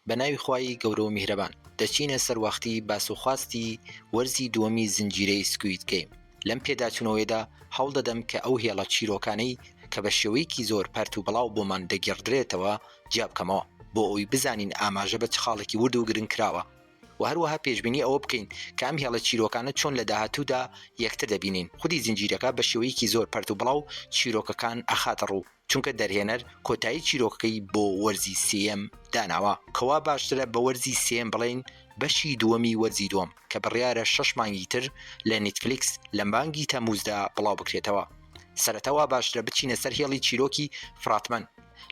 بە ناوی خوای گەورە و میهرەبان. دەچینە سەر وەختی باس و خواستی وەرزی دووەمی زنجیرەی سکوید گەیم. لەم پێداچوونەوەیدا هەوڵ دەدەم کە ئەو هێڵە چیرۆکانەی کە بە شێوەیەکی زۆر پەرت و بڵاو بۆمان دەگێڕدرێتەوە جیا بکەمەوە بۆ ئەوەی بزانین ئاماژە بە چ خاڵێکی ورد و گرنگ کراوە و هەروەها پێشبینی ئەوە بکەین کە ئەم هێڵە چیرۆکانە چۆن لە داهاتوودا یەکتر دەبینین. خودی زنجیرەکە بە شێوەیەکی زۆر پەرت و بڵاو چیرۆکەکان ئەخاتە ڕوو. چونکە دەرهێنەر کۆتایی چیرۆکەکەی بۆ وەرزی سێیەم داناوە، کەوا باشترە بە وەرزی سێیەم بڵێین بەشی دووەمی وەرزی دووەم، کە بڕیارە شەش مانگی تر لە نیتفلیکس لە مانگی تەمووزدا بڵاوبکرێتەوە. سەرەتا وا باشترە بچینە سەر هێڵی چیرۆکی فراتمەن،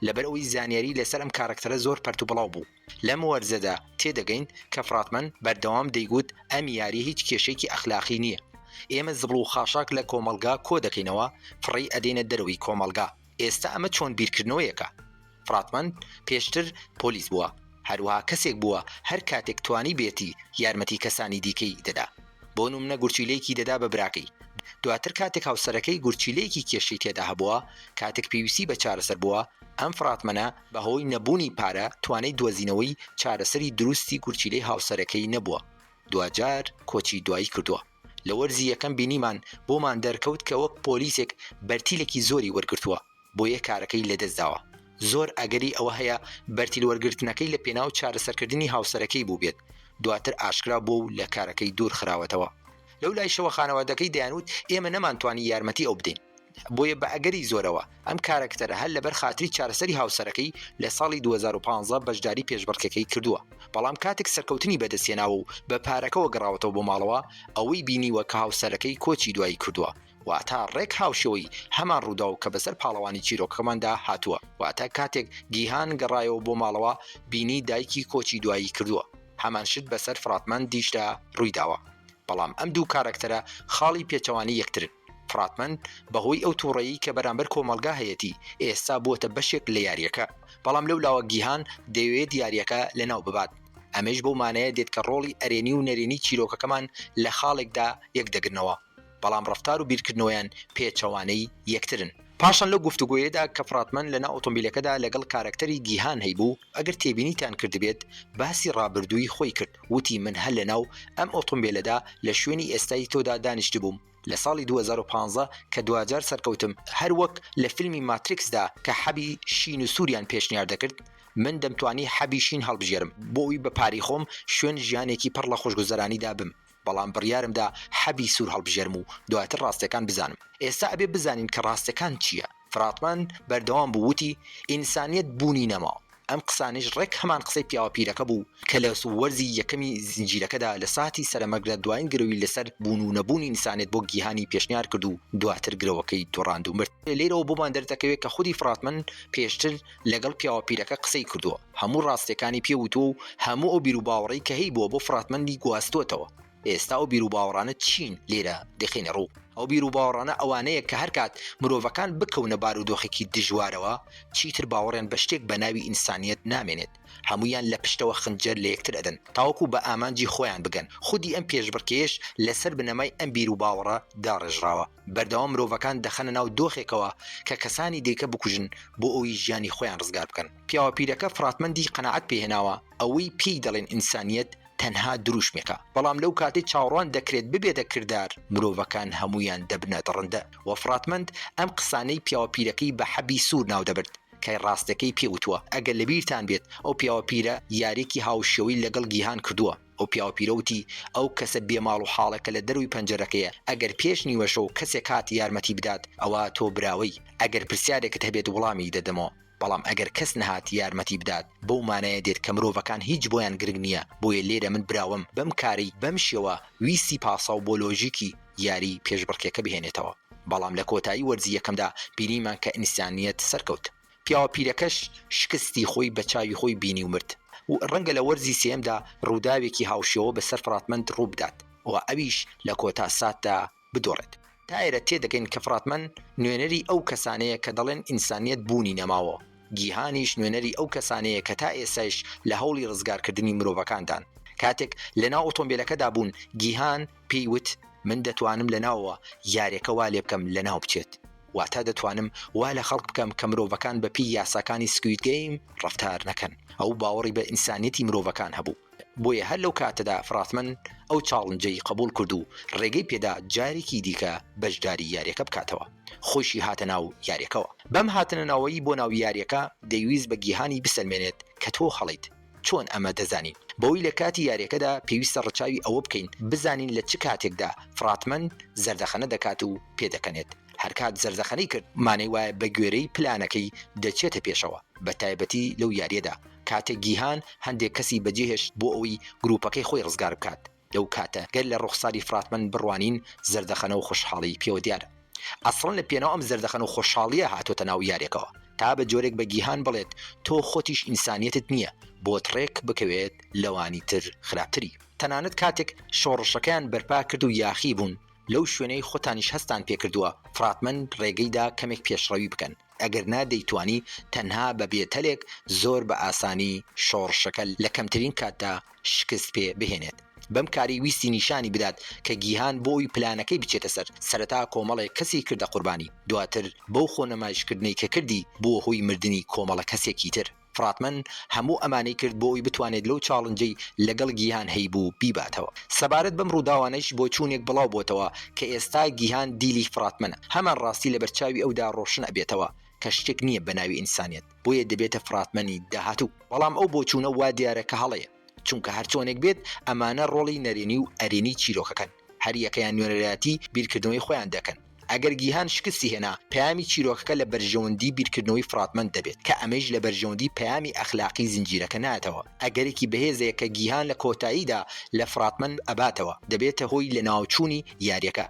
لەبەرئەوەی زانیاری لەسەر ئەم کارەکتەرە زۆر پەرتوبڵاو بوو. لەم وەرزەدا تێدەگەین کە فڕاتمەن بەردەوام دەیگوت ئەم یاریە هیچ کێشەیەکی ئەخلاقی نیە ئێمە زبڵ و خاشاک لە کۆمەڵگا کۆدەکەینەوە فڕێی ئەدەینە دەرەوەی کۆمەڵگا ئێستا ئەمە چۆن بیرکردنەوەیەکە فڕاتمەن پێشتر پۆلیس بووە هەروەها کەسێک بووە هەر کاتێک توانیبێتی یارمەتی کەسانی دیکەی دەدا بۆ نمونە گورچیلەیەکی دەدا بە براکەی دواتر کاتێک هاوسەرەکەی گورچیلەیەکی کێشەی تێدا هەبووە کاتێک پێویستی بە چارەسەر بووە ئەم فڕاتمەنە بەهۆی نەبوونی پارە توانای دۆزینەوەی چارەسەری دروستی گورچیلەی هاوسەرەکەی نەبووە دواجار کۆچی دوایی کردووە لە وەرزی یەکەم بینیمان بۆمان دەرکەوت کە وەک پۆلیسێک بەرتیلێکی زۆری وەرگرتووە بۆیە کارەکەی لەدەست داوە زۆر ئەگەری ئەوە هەیە بەرتیل وەرگرتنەکەی لە پێناو چارەسەرکردنی هاوسەرەکەی بووبێت دواتر ئاشکرا بووە و لە کارەکەی دوور خراوەتەوە لەولایشەوە خانەوادەکەی دەیانوت ئێمە نەمانتوانی یارمەتی ئەو بدەین بۆیە بەئەگەری زۆرەوە ئەم کارەکتەرە هەر لەبەر خاتری چارەسەری هاوسەرەکەی لە ساڵی دوو هەزار و پازدە بەشداری پێشبڕکێکەی کردووە، بەڵام کاتێک سەرکەوتنی بەدەستهێناوە و بە پارەکەوە گەڕاوەتەوە بۆ ماڵەوە، ئەوەی بینیوە کە هاوسەرەکەی کۆچی دوایی کردووە، واتە ڕێک هاوشێوەی هەمان ڕووداو کە بەسەر پاڵەوانی چیرۆکەکەماندا هاتووە، واتە کاتێک گیهان گەڕایەوە بۆ ماڵەوە بینی دایکی کۆچی دوایی کردووە، هەمان شت بەسەر فراتمەندیشدا ڕوویداوە، بەڵام ئەم دوو کارەکتەرە خاڵی پێچەوانەی یەکترن. تراتمەن، بەهۆی ئەو توڕەیی کە بەرامبەر کۆمەڵگا هەیەتی، ئێستا بووەتە بەشێک لە یارییەکە، بەڵام لەو لاوە گیهان دەیەوێت یارییەکە لەناو ببات. ئەمەیش بەو مانایە دێت کە ڕۆڵی ئەرێنی و نەرێنی چیرۆکەکەمان لە خاڵێکدا یەکدەگرنەوە، بەڵام ڕەفتار و بیرکردنەوەیان پێچەوانەی یەکترن. پاشان لەو گفتوگۆیەدا کە فراتمەن لەناو ئۆتۆمبیلەکەدا لەگەڵ کارەکتەری گیهان هەیبوو، ئەگەر تێبینیتان کردبێت باسی ڕابردووی خۆی کرد، وتی من هەر لەناو ئەم ئۆتۆمبێلەدا لە شوێنی ئێستای تۆدا دانیشتبووم لە ساڵی دوو هەزار و پازدە کە دواجار سەرکەوتم، هەر وەک لە فیلمی ماتریکسدا کە حەبی شین و سووریان پێشنیار دەکرد، من دەمتوانی حەبی شین هەڵبژێرم بۆ ئەوی بە پارەی خۆم شوێن ژیانێکی پڕ لە خۆشگوزەرانیدا بم. بەڵام بڕیارم دا حەبی سوور هەڵبژێرم و دواتر ڕاستیەکان بزانم. ئێستا ئەبێ بزانین کە ڕاستیەکان چیە. فراطمان بەردەوام بوو وتی، ئینسانیەت بوونی نەماوە. ئەم قسانەیش ڕێک هەمان قسەی پیاوە پیرەکە بوو، کە لە وەرزی یەکەمی زنجیرەکەدا لە ساتی سەرەمەرگدا دوایین گرەوی لەسەر بوون و نەبوونی ئینسانیەت بۆ گیهانی پێشنیار کرد و دواتر گرەوەکەی دوڕاند و مرد. لێرەوە بۆمان دەردەکەوێ کە خودی فراطمان پێشتر لەگەڵ پیاوە پیرەکە قسەی کردووە، هەموو ڕاستییەکانی پێ وتووە و هەموو ئەو بیروباوەڕەی کە هەیبووە بۆ فڕاتمەندی گواستووەتەوە. ئێستا ئەو بیروباوەڕانە چین لێرە دەخەینە ڕوو؟ ئەو بیروباوەڕانە ئەوانەیە کە هەرکات مرۆڤەکان بکەونە بارودۆخێکی دژوارەوە، چیتر باوەڕیان بە شتێک بە ناوی ئینسانییەت نامێنێت، هەموویان لە پشتەوە خنجەر لە یەکتر ئەدەن تاوەکو بە ئامانجی خۆیان بگەن. خودی ئەم پێشبڕکێیەش لەسەر بنەمای ئەم بیروباوەڕە داڕێژراوە. بەردەوام مرۆڤەکان دەخەنە ناو دۆخێکەوە کە کەسانی دیکە بکوژن بۆ ئەوەی ژیانی خۆیان ڕزگار بکەن. پیاوە پیرەکە فڕاتمەندی قەناعەت پێ هێناوە ئەوەی پێی دەڵێن ئینسانییەت تەنها دروشمێکە، بەڵام لەو کاتەی چاوەڕوان دەکرێت ببێتە کردار، مرۆڤەکان هەموویان دەبنە دڕندە و فڕاتمەند ئەم قسانەی پیاوە پیرەکەی بە حەبی سوور ناو دەبرد کە ڕاستەکەی پێ وتووە. ئەگەر لەبیرتان بێت ئەو پیاوە پیرە یاریێکی هاوشێوەی لەگەڵ گیهان کردووە. ئەو پیاوپیرە وتی، ئەو کەسە بێ ماڵ و حاڵە کە لە دەرووی پەنجەرەکەیە، ئەگەر پێش نیوەشەو کەسێک هات یارمەتی بدات، ئەوا تۆ براوەی، ئەگەر پرسیارێکت هەبێت وڵامی دەدەمەوە، بەڵام ئەگەر کەس نەهات یارمەتی بدات، بەو مانایە دێت کە مرۆڤەکان هیچ بۆیان گرنگ نییە، بۆیە لێرە من براوەم بەم کارەی بەم شێوە ویستی پاساو بۆ لۆژیکی یاری پێشبڕکێکە بهێنێتەوە، بەڵام لە کۆتایی وەرزی یەکەمدا بینیمان کە ئینسانییەت سەرکەوت. پیاوە پیرەکەش شکستی خۆی بە چاوی خۆی بینی و مرد و ڕەنگە لە وەرزی سێیەمدا ڕووداوێکی هاوشێوە بە سەر فڕاتمەند ڕوو بدات و ئەویش لە کۆتا ساتدا بدۆڕێت. تا ئێرە تێ دەگەین کە فڕاتمەند نوێنەری ئەو کەسانەیە کە دەڵێن ئینسانییەت بوونی نەماوە، گیهانیش نوێنەری ئەو کەسانەیە کە تا ئێستایش لە هەوڵی ڕزگارکردنی مرۆڤەکاندان. کاتێک لە ناو ئۆتۆمبێلەکەدا بوون، گیهان، پێی وت، من دەتوانم لە ناوەوە یاریەکە وا لێ بکەم لە ناو بچێت، واتە دەتوانم وا لە خەڵک بکەم کە مرۆڤەکان بە پێی یاساکانی سکوید گەیم ڕەفتار نەکەن. ئەو باوەڕی بە ئینسانیەتی مرۆڤەکان هەبوو، بۆیە هەر لەو کاتەدا فراتمن ئەو چاڵنجەی قبوڵ کرد و ڕێگەی پێدا جارێکی دیکە بەشداری یاریەکە بکاتەوە. خۆیشی هاتە ناو یاریەکەوە. بەم هاتنە ناوەی بۆ ناو یاریەکە دەیویست بە گیهانی بسەلمێنێت کە تۆ هەڵەیت. چۆن ئەمە دەزانین؟ بەوەی لە کاتی یاریەکەدا پێویستە ڕەچاوی ئەوە بکەین بزانین لە چ کاتێکدا فراتمەن زەردەخەنە دەکات و پێدەکەنێت، هەرکات زەردەخەنەی کرد مانای وایە بەگوێرەی پلانەکەی دەچێتە پێشەوە، بەتایبەتی لەو یاریەدا کاتێک گیهان هەندێک کەسی بەجێهێشت بۆ ئەوەی گروپەکەی خۆی ڕزگار بکات، لەو کاتە گەر لە ڕوخساری فڕاتمەند بڕوانین زەردەخەنە و خوشحاڵیی پێوە دیارە. ئەسڵەن لە پێناو ئەم زەردەخەن و خۆشحاڵییە هاتۆتە ناو یارێکەوە تا بە جۆرێک بە گیهان بڵێت تۆ خۆتیش ئینسانیەتت نییە بۆت ڕێک بکەوێت لەوانی تر خراپتری. تەنانەت کاتێک شۆڕشەکەیان بەرپا کرد و یاخی بوون لەو شوێنەی خۆتانیش هەستتان پێ کردووە فڕاتمەند ڕێگەی دا کەمێک پێشڕەوی بکەن ئەگەر نا دەیتوانی تەنها بە بێتەلێک زۆر بە ئاسانی شۆڕشەکە لە کەمترین کاتدا شکست پێ بهێنێت. بەم کارەی ویستی نیشانی بدات کە گیهان بۆ ئەوی پلانەکەی بچێتە سەر، سەرەتا کۆمەڵێک کەسی کردە قوربانی، دواتر بەو خۆنمایشکردنەی کە کردی بووە هۆی مردنی کۆمەڵە کەسێکی تر. فڕاتمەن هەموو ئەمانەی کرد بۆ ئەوی بتوانێت لەو چاڵنجەی لەگەڵ گیهان هەیبوو بیباتەوە. سەبارەت بەم ڕووداوانەیش بۆچوونێک بڵاو بۆتەوە کە ئێستا گیهان دیلی فڕاتمەنە. هەمان ڕاستی لەبەرچاوی ئەودا ڕۆشن ئەبێتەوە کە شتێک نییە بەناوی ئینسانیەت بۆیە دەبێتە فڕاتمەنی داهاتوو. بەڵام ئەو بۆچوونە وا دیارە کە هەڵەیە. چونکە هەرچۆنێک بێت ئەمانە ڕۆڵی نەرێنی و ئەرێنی چیرۆکەکەن، هەریەکەیان نوێنەرایەتی بیرکردنەوەی خۆیان دەکەن، ئەگەر گیهان شکستی هێنا، پەیامی چیرۆکەکە لە بەرژەوەندی بیرکردنەوەی فڕاتمەند دەبێت، کە ئەمەیش لە بەرژەوەندی پەیامی ئەخلاقی زنجیرەکە نایەتەوە، ئەگەرێکی بەهێزەیە کە گیهان لە کۆتاییدا لە فڕاتمەند ئەباتەوە، دەبێتە هۆی لەناوچوونی یارییەکە.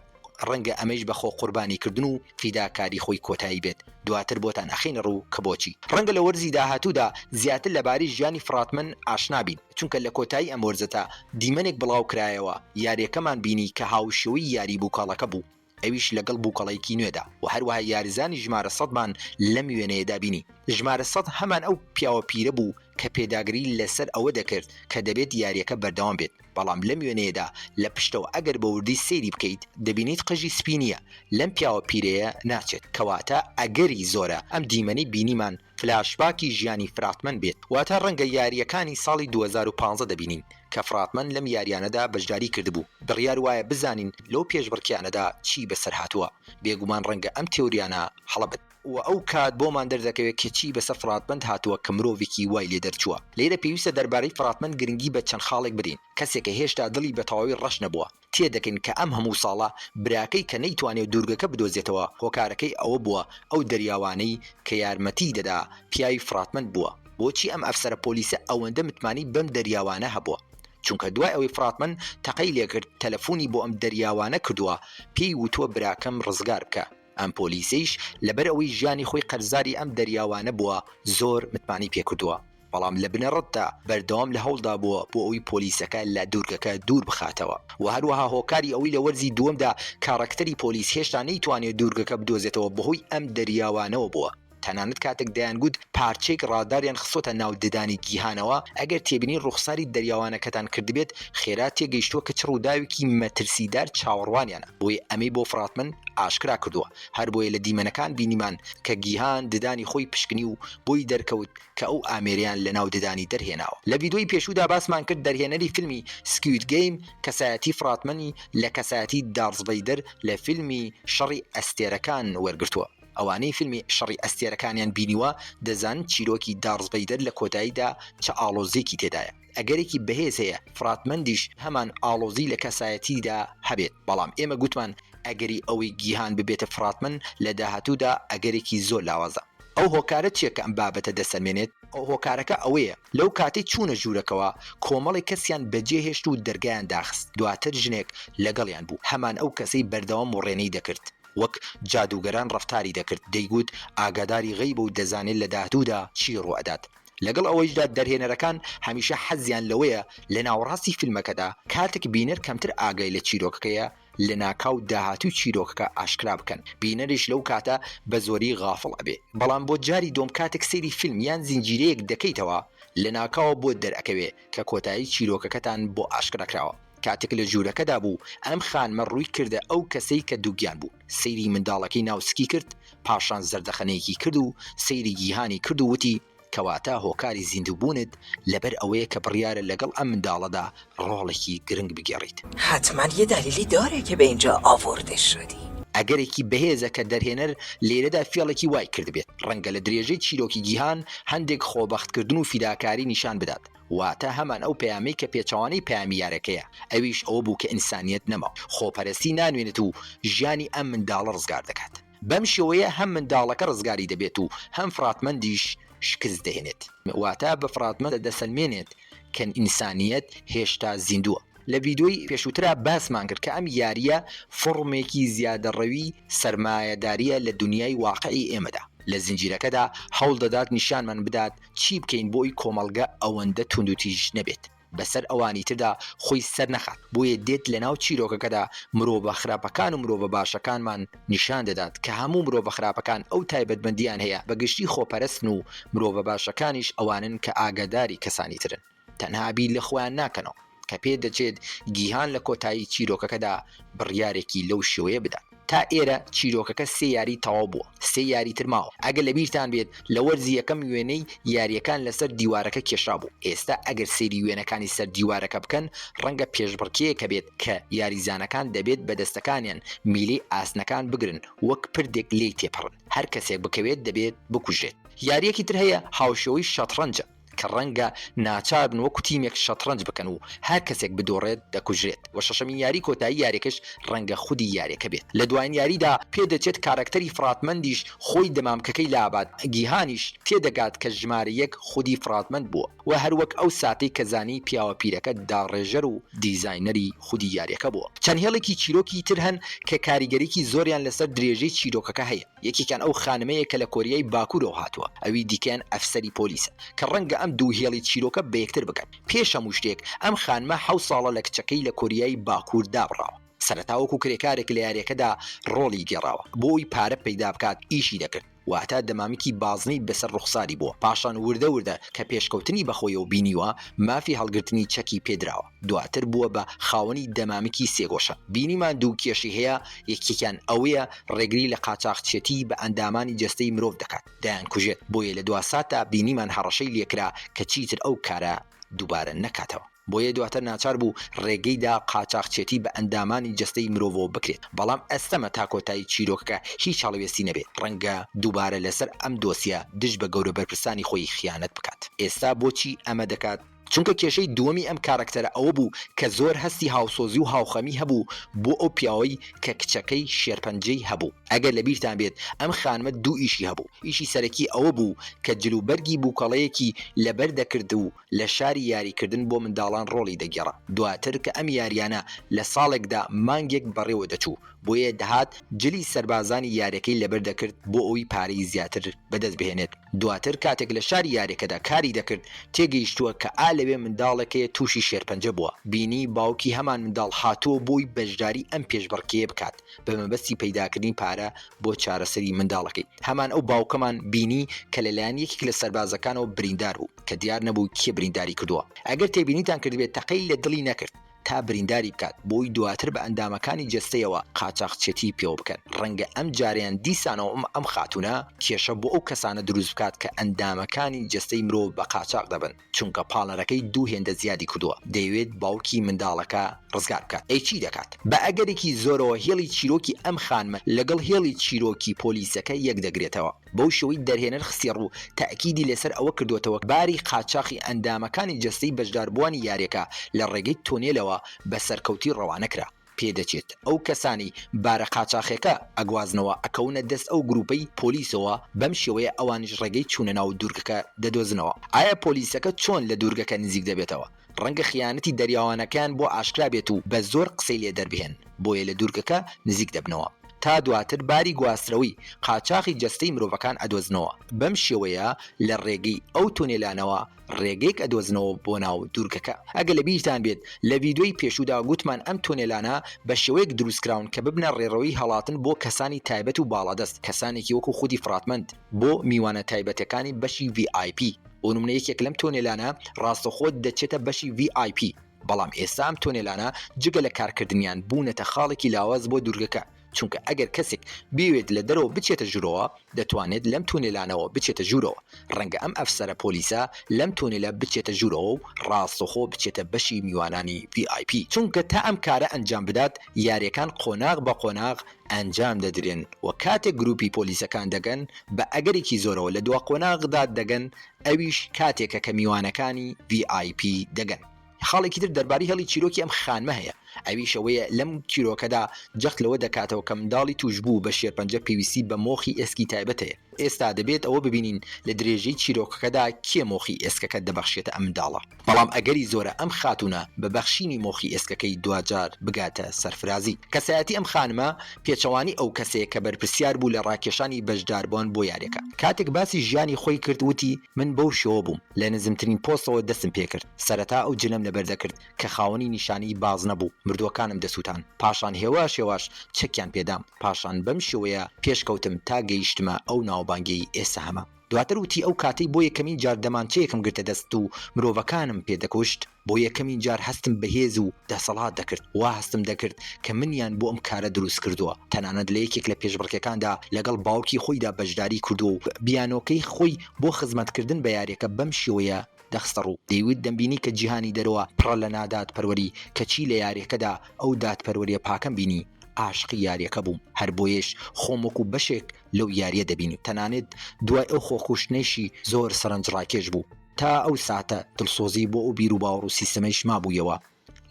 ڕەنگە ئەمەیش بە خۆ قوربانی کردن و فیداکاری خۆی کۆتایی بێت، دواتر بۆتان ئەخەینە ڕوو کە بۆچی. ڕەنگە لە وەرزی داهاتوودا زیاتر لە باری ژیانی فڕاتمن ئاشنا بین، چونکە لە کۆتایی ئەم وەرزەتا دیمەنێک بڵاو کرایەوە، یاریەکەمان بینی کە هاوشێوەی یاری بوکەڵەکە بوو، ئەویش لەگەڵ بوکەڵەیەکی نوێدا و هەروەها یاریزانی ژمارە سەدمان لەم وێنەیەدا بینی، ژمارە سەد هەمان ئەو پیاوە پیرە بوو کە پێداگری لەسەر ئەوە دەکرد کە دەبێت یاریەکە بەردەوام بێت. بەڵام لەم وێنەیەدا لە پشتەوە ئەگەر بە وردی سەیری بکەیت دەبینیت قژی سپی نییە لەم پیاوە پیرەیە ناچێت کەواتە ئەگەری زۆرە ئەم دیمەنەی بینیمان فلاشباکی ژیانی فراتمەن بێت واتە ڕەنگە یارییەکانی ساڵی دوو هەزار و پازدە دەبینین کە فراتمەن لەم یاریانەدا بەشداری کردبوو بڕیار وایە بزانین لەو پێشبڕکێیانەدا چی بەسەر هاتووە بێگومان ڕەنگە ئەم تێوریانە هەڵە بن. و ئەو کات بۆمان دەردەکەوێت کە چی بەسەر فڕاتمەند هاتووە کە مرۆڤێکی وای لێ دەرچووە. لێرە پێویستە دەربارەی فڕاتمەند گرنگی بە چەند خاڵێک بدەین، کەسێکە هێشتا دڵی بە تەواوی ڕەش نەبووە، تێدەکەین کە ئەم هەموو ساڵە براکەی کە نەیتوانیوە دوورگەکە بدۆزێتەوە هۆکارەکەی ئەوە بووە ئەو دەریاوانەی کە یارمەتیی دەدا پیاوی فڕاتمەند بووە. بۆچی ئەم ئەفسەرە پۆلیسە ئەوەندە متمانەی بەم دەریاوانە هەبووە؟ چونکە دوای ئەوەی فڕاتمەند تەقەی لێکرد تەلەفونی بۆ ئەم دەریاوانە کردووە پێی وتووە براکەم ڕزگار بکە. ئەم پۆلیسەیش لەبەر ئەوەی ژیانی خۆی قەرزاری ئەم دەریاوانە بووە زۆر متمانەی پێکردووە، بەڵام لە بنەڕەتدا بەردەوام لە هەوڵدا بووە بۆ ئەوەی پۆلیسەکە لە دوورگەکە دوور بخاتەوە و هەروەها هۆکاری ئەوەی لە وەرزی دووەمدا کارەکتەری پۆلیس هێشتا نەیتوانێت دوورگەکە بدۆزێتەوە بەهۆی ئەم دەریاوانەوە بووە. تەنانەت کاتێک دەیانگوت پارچەیەک ڕاداریان خستۆتە ناو ددانی گیهانەوە، ئەگەر تێبینی ڕوخساری دەریاوانەکەتان کردبێت، خێرا تێگەیشتووە کە چ ڕووداوێکی مەترسیدار چاوەڕوانیانە، بۆیە ئەمەی بۆ فراتمن ئاشکرا کردووە، هەربۆیە لە دیمەنەکان بینیمان کە گیهان ددانی خۆی پشکنی و بۆی دەرکەوت کە ئەو ئامێرەیان لەناو ددانی دەرهێناوە. لە ڤیدۆی پێشوودا باسمان کرد دەرهێنەری فیلمی سکوید گەیم کەسایەتی فراتمنی لە کەسایەتی دارس ڤەیدەر لە فیلمی شەڕی ئەستێرەکان وەرگرتووە، ئەوانەی فیلمی شەڕی ئەستێرەکانیان بینیوە دەزان چیرۆکی دارس ڤەیدەر لە کۆتاییدا چ ئاڵۆزیەکی تێدایە ئەگەرێکی بەهێز هەیە فرات مەندیش هەمان ئاڵۆزی لە کەسایەتیدا هەبێت بەڵام ئێمە گوتمان ئەگەری ئەوەی گیهان ببێتە فراتمەند لە داهاتوودا ئەگەرێکی زۆر لاوازە. ئەو هۆکارە چیە کە ئەم بابەتە دەسەلمێنێت؟ هۆکارەکە ئەوەیە لەو کاتەی چوونە ژوورەکەوە کۆمەڵێک کەسیان بەجێ هێشت و دەرگایان داخست دواتر ژنێک لەگەڵیان بوو هەمان ئەو کەسەی بەردەوام وڕێنەی دەکرد وەک جادووگەران ڕەفتاری دەکرد، دەیگوت ئاگاداری غەیبە و دەزانێت لە داهتوودا چی ڕووئەدات. لەگەڵ ئەوەیشدا دەرهێنەرەکان هەمیشە حەزیان لەوەیە لە ناوەڕاستی فیلمەکەدا، کاتێک بینەر کەمتر ئاگای لە چیرۆکەکەیە، لەناکاو داهاتووی چیرۆکەکە ئاشکرا بکەن، بینەریش لەو کاتە بە زۆری غافڵ ئەبێ. بەڵام بۆ جاری دووەم کاتێک سەیری فیلم یان زنجیرەیەک دەکەیتەوە، لەناکاوە بۆت دەرئەکەوێ کە کۆتایی چیرۆکەکەتان بۆ ئاشکرا کراوە. کاتێک لە ژوورەکەدا بوو، ئەم خانمە ڕووی کردە ئەو کەسەی کە دووگیان بوو، سەیری منداڵەکەی ناو سکی کرد، پاشان زەردەخەنەیەکی کرد و سەیری گیهانی کرد و وتی، کەواتە هۆکاری زیندووبوونت لەبەر ئەوەیە کە بڕیارە لەگەڵ ئەم منداڵەدا ڕۆڵێکی گرنگ بگێڕیت. حتما یه دلیلی داره که به اینجا آورده شدی. ئەگەرێکی بەهێزە کە دەرهێنەر لێرەدا فێڵێکی وای کردبێت، ڕەنگە لە درێژەی چیرۆکی گیهان هەندێک خۆبەختکردن و فیداکاری نیشان بدات، واتە هەمان ئەو پەیامەی کە پێچەوانەی پەیامی یارەکەیە، ئەویش ئەوە بوو کە ئینسانییەت نەما، خۆپەرەستی نانوێنێت و ژیانی ئەم منداڵە ڕزگار دەکات. بەم شێوەیە هەم منداڵەکە ڕزگاری دەبێت و هەم فڕاتمەندیش شکست دەهێنێت. واتە بە فڕاتمەند دەسەلمێنێت کە ئینسانییەت هێشتا زیندووە. لە ڤیدیۆی پێشووترا باسمان کرد کە ئەم یارییە فۆڕمێکی زیادەڕەوی سەرمایەدارییە لە دونیای واقعی ئێمەدا. لە زنجیرەکەدا هەوڵ دەدات نیشانمان بدات چی بکەین بۆی کۆمەڵگە ئەوەندە توندوتیژ نەبێت بەسەر ئەوانیتردا خۆی سەرنەخات بۆیە دێت لەناو چیرۆکەکەدا مرۆڤە خراپەکان و مرۆڤە باشەکانمان نیشان دەدات کە هەموو مرۆڤە خراپەکان ئەو تایبەتمەندیان هەیە بەگشتی خۆپەرستن و مرۆڤە باشەکانیش ئەوانن کە ئاگاداری کەسانیترن تەنها بیر لە خۆیان ناکەنەوە کە پێ دەچێت گیهان لە کۆتایی چیرۆکەکەدا بڕیارێکی لەو شێوەیە بدات. تا ئێرە چیرۆکەکە سێ یاری تەواو بووە، سێ یاری تر ماوە. ئەگەر لە بیرتان بێت لە وەرزی یەکەم وێنەی یارییەکان لە سەر دیوارەکە کێشرابوو، ئێستا ئەگەر سەیری وێنەکانی سەر دیوارەکە بکەن ڕەنگە پێشبڕکێیەکە بێت کە یاریزانەکان دەبێت بە دەستەکانیان میلەی ئاسنەکان بگرن وەک پردێک لێی تێپەڕن، هەر کەسێک بکەوێت دەبێت بکوژرێت. یارییەکی تر هەیە هاوشێوەی شەتڕەنجە، کە ڕەنگە ناچاربن وەکو تیمێک شەتڕەنج بکەن و هەر کەسێک بدۆڕێت دەکوژرێت و شەشەمین یاری کۆتایی یاریەکەش ڕەنگە خودی یاریەکە بێت لە دواین یاریدا، پێدەچێت کارەکتەری فڕاتمەندیش خۆی دەمامکەکەی لابات، گیهانیش تێدەگات کە ژمارە یەک خودی فڕاتمەند بووە و هەروەک ئەو ساتەی کە زانی پیاوە پیرەکە داڕێژەر و دیزاینەری خودی یاریەکە بووە، چەند هێڵێکی چیرۆکی تر هەن کە کاریگەریی زۆریان لەسەر درێژەی چیرۆکەکە هەیە. یەکێکیان ئەو خانمەیە کە لە کۆریای باکوورەوە هاتووە، ئەوی دیکەیان ئەفسەری پۆلیسە، کە ڕەنگە ئەم دوو هێڵی چیرۆکە بە یەکتر بگەن. پێش هەموو شتێک، ئەم خانمە حەوت ساڵە لە کچەکەی لە کۆریای باکوور دابڕاوە. سەرەتا وەکوو کرێکارێک لە یارییەکەدا ڕۆڵی گێڕاوە. بۆ ئەوەی پارە پەیدا بکات ئیشی دەکرد، واتە دەمامکی بازنەی بەسەر ڕوخساری بووە. پاشان وردە وردە کە پێشکەوتنی بەخۆیەوە بینیوە، مافی هەڵگرتنی چەکی پێ دراوە. دواتر بووە بە خاوەنی دەمامکی سێگۆشە، بینیمان دوو کێشەی هەیە، یەکێکیان ئەوەیە ڕێگری لە قاچاخچێتی بە ئەندامانی جەستەی مرۆڤ دەکات، دەیانکوژێت، بۆیە لە دواساتدا بینیمان هەڕەشەی لێکرا کە چیتر ئەو کارە دووبارە نەکاتەوە، بۆیە دواتر ناچار بوو ڕێگەی دا قاچاخچێتی بە ئەندامانی جەستەی مرۆڤەوە بکرێت، بەڵام ئەستەمە تا کۆتایی چیرۆکەکە هیچ هەڵوێستی نەبێت، ڕەنگە دووبارە لەسەر ئەم دۆسیە دژ بە گەورە بەرپرسانی خۆی خیانەت بکات، ئێستا بۆچی ئەمە دەکات؟ چونکە کێشەی دووەمی ئەم کارەکتەرە ئەوە بوو کە زۆر هەستی هاوسۆزی و هاوخەمی هەبوو بۆ ئەو پیاوەی کە کچەکەی شێرپەنجەی هەبوو. ئەگەر لە بیرتان بێت ئەم خانمە دوو ئیشی هەبوو، ئیشی سەرەکی ئەوە بوو کە جل و بەرگی بووکەڵەیەکی لەبەر دەکرد و لە شاری یاریکردن بۆ منداڵان ڕۆڵی دەگێڕا، دواتر کە ئەم یاریانە لە ساڵێکدا مانگێک بەڕێوە دەچوو، بۆیە دەهات جلی سەربازانی یارەکەی لەبەر دەکرد بۆ ئەوەی پارەی زیاتر بەدەست بهێنێت، دواتر کاتێک لە شاری یارەکەدا کاری دەکرد تێگەیشتووە کە ئا لەوێ منداڵێک هەیە تووشی شێرپەنجە بووە، بینی باوکی هەمان منداڵ هاتووە بۆی بەشداری ئەم پێشبڕکێیە بکات بە مەبەستی پەیداکردنی پارە بۆ چارەسەری منداڵەکەی، هەمان ئەو باوکەمان بینی کە لەلایەن یەکێک لە سەربازەکانەوە بریندار بوو کە دیار نەبوو کێ برینداری کردووە، ئەگەر تێبینیتان کردبێت تەقەی لە دڵی نەکرد، تا برینداری بکات بۆی دواتر بە ئەندامەکانی جەستەیەوە قاچاخچێتی پێوە بکەن ڕەنگە ئەم جارەیان دیسانەوە ئەم خاتونە کێشە بۆ ئەو کەسانە دروست بکات کە ئەندامەکانی جەستەی مرۆڤ بە قاچاخ دەبەن چونکە پاڵنەرەکەی دوو هێندە زیادی کردووە دەیەوێت باوکی منداڵەکە ڕزگار بکات ئەی چی دەکات بە ئەگەرێکی زۆرەوە هێڵی چیرۆکی ئەم خانمە لەگەڵ هێڵی چیرۆکی پۆلیسەکە یەک دەگرێتەوە. بەو شێوەی دەرهێنەر خستیەڕوو، تەئکیدی لەسەر ئەوە کردووەتەوە باری قاچاخی ئەندامەکانی جەستەی بەشداربووانی یاریەکە لە ڕێگەی تونێلەوە بە سەرکەوتوی ڕەوانەکرا، پێدەچێت ئەو کەسانەی بارە قاچاخیەکە ئەگوازنەوە ئەکەونە دەست ئەو گروپەی پۆلیسەوە، بەم شێوەیە ئەوانیش ڕێگەی چوونە ناو دوورگەکە دەدۆزنەوە. ئایا پۆلیسەکە چۆن لە دوورگەکە نزیک دەبێتەوە؟ ڕەنگە خیانەتی دەریاوانەکەیان بۆ ئاشکرا بێت و بە زۆر قسەی لێ دەربهێن، بۆیە لە دوورگەکە نزیک دەبنەوە، تا دواتر باری گواسترەوەی قاچاخی جەستەی مرۆڤەکان ئەدۆزنەوە، بەم شێوەیە لە ڕێگەی ئەو تونێلانەوە ڕێگەیەک ئەدۆزنەوە بۆ ناو دوورگەکە، ئەگەر لە بیرتان بێت لە ڤیدیۆی پێشوودا گوتمان ئەم تونێلانە بە شێوەیەک دروست کراون کە ببنە ڕێڕەوی هەڵاتن بۆ کەسانی تایبەت و باڵادەست، کەسانێکی وەکو خودی فڕاتمەند بۆ میوانە تایبەتەکانی بەشی ڤی ئای پی. بۆ نمونە یەکێک لەم تۆنێلانە ڕاستەوخۆ دەچێتە بەشی ڤی ئای پی، بەڵام ئێستا ئەم تۆنێلانە جگە لە کارکردنیان بوونەتە خاڵێکی لاواز بۆ دوورگەکە، چونکە ئەگەر کەسێک بیەوێت لە دەرەوە بچێتە ژوورەوە دەتوانێت لەم تونێلانەوە بچێتە ژوورەوە، ڕەنگە ئەم ئەفسەرە پۆلیسە لەم تۆنێلە بچێتە ژوورەوە و ڕاستەوخۆ بچێتە بەشی میوانانی ڤی ئای پی، چونکە تا ئەم کارە ئەنجام بدات یاریەکان قۆناغ بە قۆناغ ئەنجام دەدرێن و کاتێک گروپی پۆلیسەکان دەگەن بە ئەگەرێکی زۆرەوە لە دوا قۆناغدا دەگەن ئەویش کاتێکە کە میوانەکانی VIP دەگەن. خاڵێکی تر دەربارەی هێڵی چیرۆکی ئەم خانمە هەیە ئەویش ئەوەیە لەم چیرۆکەدا جەخت لەوە دەکاتەوە کە منداڵی توشبوو بە شێرپەنجە پێویستی بە مۆخی ئێسکی تایبەت هەیە. ئێستا دەبێت ئەوە ببینین لە درێژەی چیرۆکەکەدا کێ مۆخی ئێسکەکە دەبەخشێتە ئەم منداڵە. بەڵام ئەگەری زۆرە ئەم خاتوونە بە بەخشینی مۆخی ئێسکەکەی دواجار بگاتە سەرفرازی. کەسایەتی ئەم خانمە پێچەوانەی ئەو کەسەیە کە بەرپرسیار بوو لە ڕاکێشانی بەشداربوان بۆ یاریەکە. کاتێک باسی ژیانی خۆی کرد وتی، من بەو شێوە بووم، لە نزمترین پۆستەوە دەستم پێکرد، سەرەتا ئەو جلەم لەبەر دەکرد کە خاوەنی نیشانەی بازنە بوو، مردووەکانم دەسووتان، پاشان هێواش هێواش چەکیان پێدام، پاشان بەم شێوەیە پێشکەوتم تا گەیشتمە ئەو ناوبانگەی ئێستا هەمە. دواتر وتی ئەو کاتەی بۆ یەکەمین جار دەمانچەیەکم گرتە دەست و مرۆڤەکانم پێ دەکوشت، بۆ یەکەمین جار هەستم بە هێز و دەسەڵات دەکرد، وا هەستم دەکرد کە منیان بۆ ئەم کارە دروست کردووە، تەنانەت لە یەکێک لە پێشبڕکێکاندا لەگەڵ باوکی خۆیدا بەشداری کردووە و بیانۆکەی خۆی بۆ خزمەتکردن بە یارییەکە بەم شێوەیە دەخستەڕوو، دەیوت دەمبینی کە جیهانی دەرەوە پڕە لە نادادپەروەری، کەچی لە یارییەکەدا ئەو دادپەروەرییە پاکەم بینی، عاشقی یارییەکە بووم، هەر بۆیەش خۆم وەکو بەشێک. لەو یاریە دەبین و تەنانەت دوای ئەو خۆکوشتنەیشی زۆر سەرەنجڕاکێش بوو تا ئەو ساتە دڵسۆزی بۆ ئەو بیروباوەڕ و سیستەمەیش مابوویەوە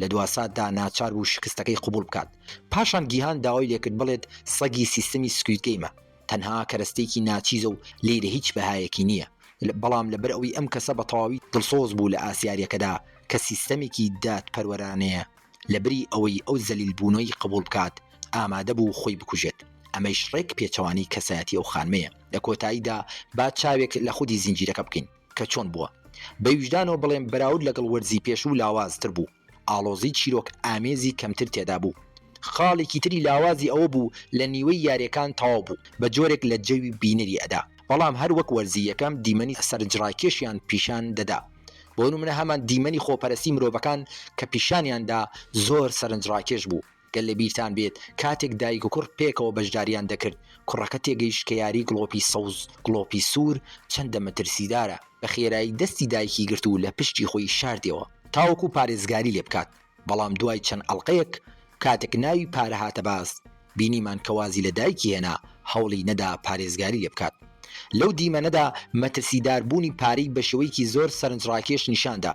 لە دواساتدا ناچار بوو شکستەکەی قبوڵ بکات پاشان گیهان داوای لێکرد بڵێت سەگی سیستەمی سکوید گەیمە تەنها کەرەستەیەکی ناچیزە و لێرە هیچ بەهایەکی نییە بەڵام لەبەر ئەوەی ئەم کەسە بەتەواوی دڵسۆز بوو لە ئاست یاریەکەدا کە سیستەمێکی دادپەروەرانەیە لەبری ئەوەی ئەو زەلیل بوونەوەی قبوڵ بکات ئامادە بوو خۆی بکوژێت ئەمەیش ڕێک پێچەوانەی کەسایەتی ئەو خانمەیە لە کۆتاییدا با چاوێک لە خودی زنجیرەکە بکەین کە چۆن بووە بە ویژدانەوە بڵێم بەراورد لەگەڵ وەرزی پێشوو لاواز تر بوو ئاڵۆزی چیرۆک ئامێزی کەمتر تێدا بوو خاڵێکی تری لاوازی ئەوە بوو لە نیوەی یاریەکان تەواو بوو بە جۆرێک لە جەوی بینەری ئەدا بەڵام هەر وەک وەرزی یەکەم دیمەنی سەرنجڕاکێشیان پیشان دەدا. بۆ نمونە هەمان دیمەنی خۆپەرستی مرۆڤەکان کە پیشانیان دا زۆر سەرنجڕاکێش بوو، گەر لە بیرتان بێت کاتێک دایک و کوڕ پێکەوە بەشداریان دەکرد کوڕەکە تێگەیشت کە یاری گڵۆپی سەوز گڵۆپی سوور چەندە مەترسیدارە، بە خێرایی دەستی دایکی گرت و لە پشتی خۆی شاردیەوە تاوەکو پارێزگاری لێ بکات. بەڵام دوای چەند ئەڵقەیەک کاتێک ناوی پارە هاتە باس بینیمان کە وازی لە دایکی هێنا هەوڵی نەدا پارێزگاری لێ بکات لەو دیمەنەدا مەترسیدار بوونی پارەی بە شێوەیەکی زۆر سەرنجڕاکێش نیشان دا.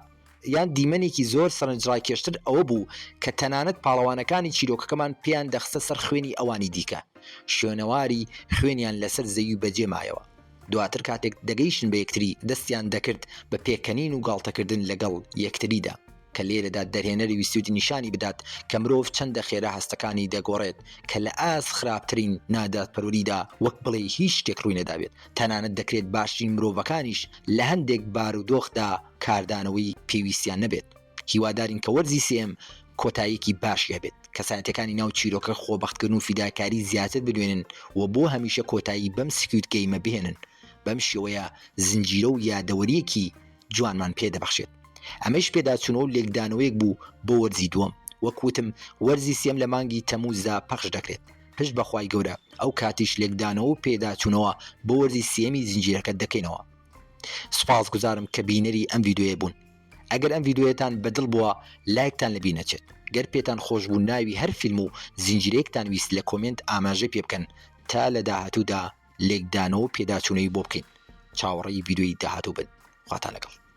یان دیمەنێکی زۆر سەرنجڕاکێشتر ئەوە بوو کە تەنانەت پاڵەوانەکانی چیرۆکەکەمان پێیان دەخستە سەر خوێنی ئەوانی دیکە شوێنەواری خوێنیان لە سەر زەوی بە جێ مایەوە دواتر کاتێک دەگەیشتن بە یەکتری دەستیان دەکرد بە پێکەنین و گاڵتەکردن لە گەڵ یەکتریدا. کە لێرەدا دەرهێنەر ویستوویەتی نیشانی بدات کە مرۆڤ چەندە خێرا هەستەکانی دەگۆڕێت، کە لە ئاست خراپترین نادادپەروەریدا وەک بڵێی هیچ شتێک ڕووی نەدابێت، تەنانەت دەکرێت باشترین مرۆڤەکانیش لە هەندێک بارودۆخدا کاردانەوەی پێویستیان نەبێت. هیوادارین کە وەرزی سێیەم کۆتاییەکی باشی هەبێت، کەسایەتییەکانی ناو چیرۆکە خۆبەختکردن و فیداکاری زیاتر بدوێنن و بۆ هەمیشە کۆتایی بەم سکوید گەیمە بهێنن، بەم شێوەیە زنجیرە و یادەوەرییەکی جوانمان پێ دەبەخشێت. ئەمەیش پێداچوونەوە و لێکدانەوەیەک بوو بۆ وەرزی دووەم. وەک وتم وەرزی سێم لە مانگی تەمووزدا پەخش دەکرێت. پشت بە خوای گەورە ئەو کاتیش لێکدانەوە و پێداچوونەوە بۆ وەرزی سێیەمی زنجیرەکە دەکەینەوە. سوپاسگوزارم کە بینەری ئەم ڤیدیۆیە بوون. ئەگەر ئەم ڤیدیۆیەتان بە دڵ بووە لایکتان لە بیر نەچێت. گەر پێتان خۆش بوو ناوی هەر فیلم و زنجیرەیەکتان ویست لە کۆمێنت ئاماژەی پێ بکەن تا لە داهاتوودا لێکدانەوەو پێداچونەوەی بۆ بکەین چاوەڕێی ڤیدیۆی داهاتوو بن خواتان لەگەڵ.